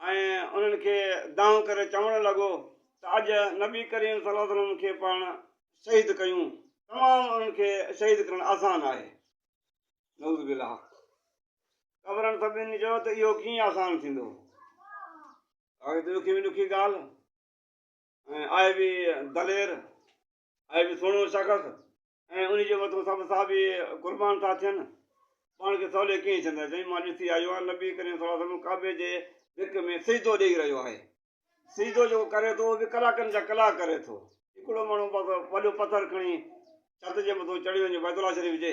۽ انهن کي دانهن ڪري چوڻ لڳو ته اڄ نبي ڪريم صلي الله عليه وسلم کي پاڻ شهيد ڪيون تمام انهن کي شهيد ڪرڻ آسان آهي نعوذ بالله قبرن سڀني چيو ته اهو ڪيئن آسان ٿيندو ڏکي ۾ ڏکي ڳالهه ۽ آء بي دلير آء بي سهڻو شخص ۽ انهي جي مٿو سڀ صحابي قربان ٿا ٿين، پاڻ کي سولي ڪيئن ڇندا؟ چيائين، مان ڏسي آيو آهيان نبي ڪريم صلي الله عليه وسلم ڪعبي جي ڀڪ ۾ سجدو ڏيئي رهيو آهي. سجدو جيڪو ڪري ٿو اهو به ڪلاڪن جا ڪلاڪ ڪري ٿو. هڪڙو ماڻهو بس وڏو پٿر کڻي ڇت جي مٿو چڙهي وڃي بيت الله شريف جي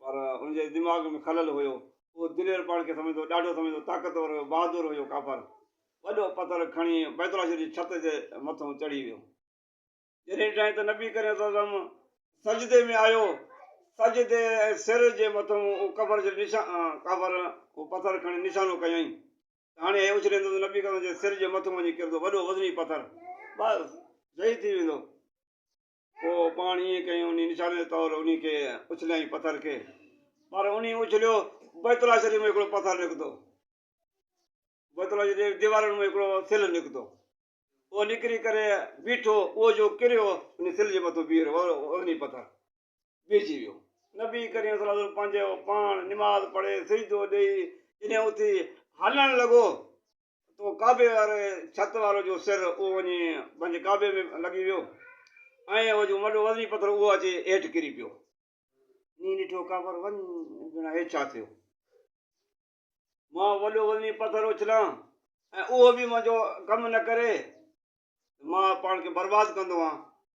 پر ان جي دماغ ۾ خلل هيو. اهو دلير پاڻ کي سمجهندو، ڏاڍو سمجهندو، طاقتور هيو، بهادر هيو. ڪافر وڏو پٿر کڻي بيت الله شريف جي ڇت جي مٿئون چڙهي ويو. جڏهن ڏٺائين ته نبي ڪريم صلي الله عليه وسلم سجدي ۾ آيو، سجدي ۽ سر جي مٿئون اهو ڪفر جي نشان، ڪافر اهو پٿر کڻي نشانو ڪيائين ته هاڻي هي اڇليندو ته نبي ڪريم جي سر جي مٿئون وڃي ڪرندو، وڏو وزني پٿر، بس شهيد ٿي ويندو. پوء پاڻ ائين ڪيائين انهيء نشاني جي طور انهيء کي اڇليائين پٿر کي. پر انهيء اڇليو بيت الله شريف ۾ هڪڙو پٿر نڪتو. بيت الله شريف جي ديوارن مان هڪڙو سل نڪتو. اهو نڪري ڪري بيٺو. اهو جو ڪريو انهيء سل جي مٿو بيهي رهيو وزني پٿر. بيهجي ويو. نبي ڪريم صلي الله عليه وسلم پنهنجو پاڻ نماز پڙهي سجدو ڏيئي جڏهن اٿي هلڻ لڳو اتو ڪعبي واري ڇت وارو جو سر اهو وڃي پنهنجي ڪعبي ۾ لڳي ويو ۽ اهو جو وڏو وزني پٿر اهو اچي هيٺ ڪري پيو. نينهن ڏٺو ڪعبر وڃ ڀيڻا هي ڇا ٿيو؟ مان وڏو وزني پٿر اڇلان ۽ اهو به منهنجو ڪم نه ڪري ته مان پاڻ کي برباد ڪندو هان.